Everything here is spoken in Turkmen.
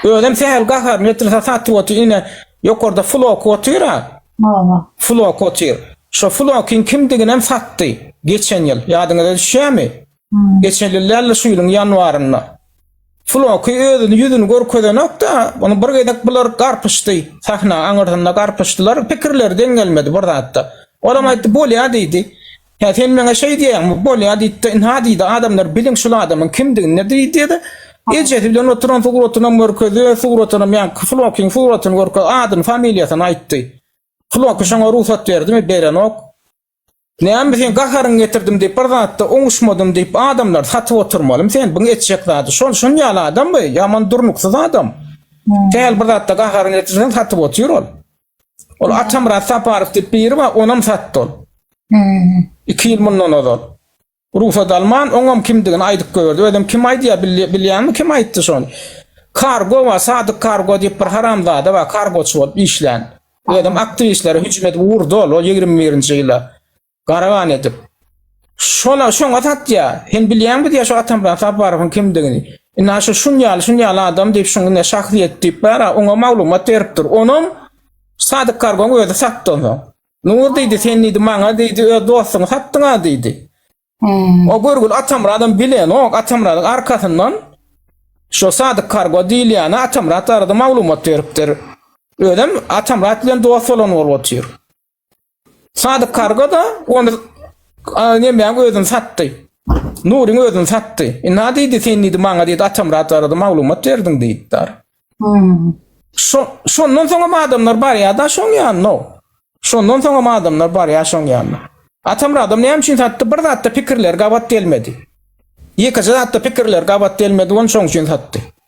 Özem sähel gaharyny getirse satyp otyr ine ýokarda floky otyra. Hawa. Floky otyr. Şo flokyň kimdiginem satdy geçen ýyl. Ýadyňyza düşýämi? Geçen ýyl dälde şu ýylyň ýanwarynda. Floky özüni ýüzüni görkezenokda ony bir gezek bular garpyşdy sahna aňyrsynda garpyşdylar pikirleri deň gelmedi bir zatda. Olam aýtdy bolýa diýdi. Hä, sen maňa şeý diýýäňmi? Bolýa, diýdi-de, ynha, diýdi, adamlar biliň şul adamyň kimdigini, diýdi-de, ejesi bilen oturan suratyny görkezdi, öz suratynam, ýaňky Flokyň suratyny görkezdi, adyny, familiýasyny aýtdy. Floky şoňa rugsat berdimi? Berenok. Näme, seň gaharyňy getirdim diýip, bir zatda oňuşmadym diýip, adamlary satyp oturmalymy sen? Biň etjek zady şol, şunuň ýaly adammy? Ýaman durnuksyz adam. Däl, bir zatda gaharyňy getirseň, satyp otyr ol. Ol Atamyrat Saparow diýip biri bar, onam satdy ol. Hmm. Iki ýyl mundan ozal. Rugsat alman, oňam kimdigini aýdyp goýberdi. Özem kim aýdýar, bilýäňmi kim aýtdy şony? Kargo bar, Sadyk Kargo diýip bir haramzada bar, kargoçy bolup işlän. Özem aktiwistlere hüjüm edip urdy ol, ol ýigrimi birinji ýyla. Garagan edip. Şona şoňa satýa. Sen bilýäňmi diýä şu Atamran Saparowyň kimdigini? Ina şu şun ýaly, şun ýaly adam diýip şuň ine şahsyýet diýip bar, oňa maglumat berip dur. Onam Sadyk Kargon özi satdy onsoň. Nur diýdi, sen diýdi maňa diýdi, öz dostuňy satdyň-a diýdi. Hmm. O görgül Atamradam bilenok, Atamradyň arkasyndan şu Sadyk Kargo diýilýäne Atamrat arada maglumat beripdir. Özem Atamrat bilen dost bolan bolup otyr. Sadyk karga da onu Nemýaň özüni satdy. Nuryň özüni satdy. E, na diýdi sen diýdi maňa diýdi Atamrat arada maglumat berdiň diýipdir. Hmm. Şo, şondan soňam adamlar barýar-da şoň ýanyna. Şondan soňam adamlar barýar şoň ýanyna. Atamradam näme üçin satdy? Bir zatda pikirler gabat gelmedi. Ýekeje zatda pikirler gabat gelmedi, on şoň üçin satdy.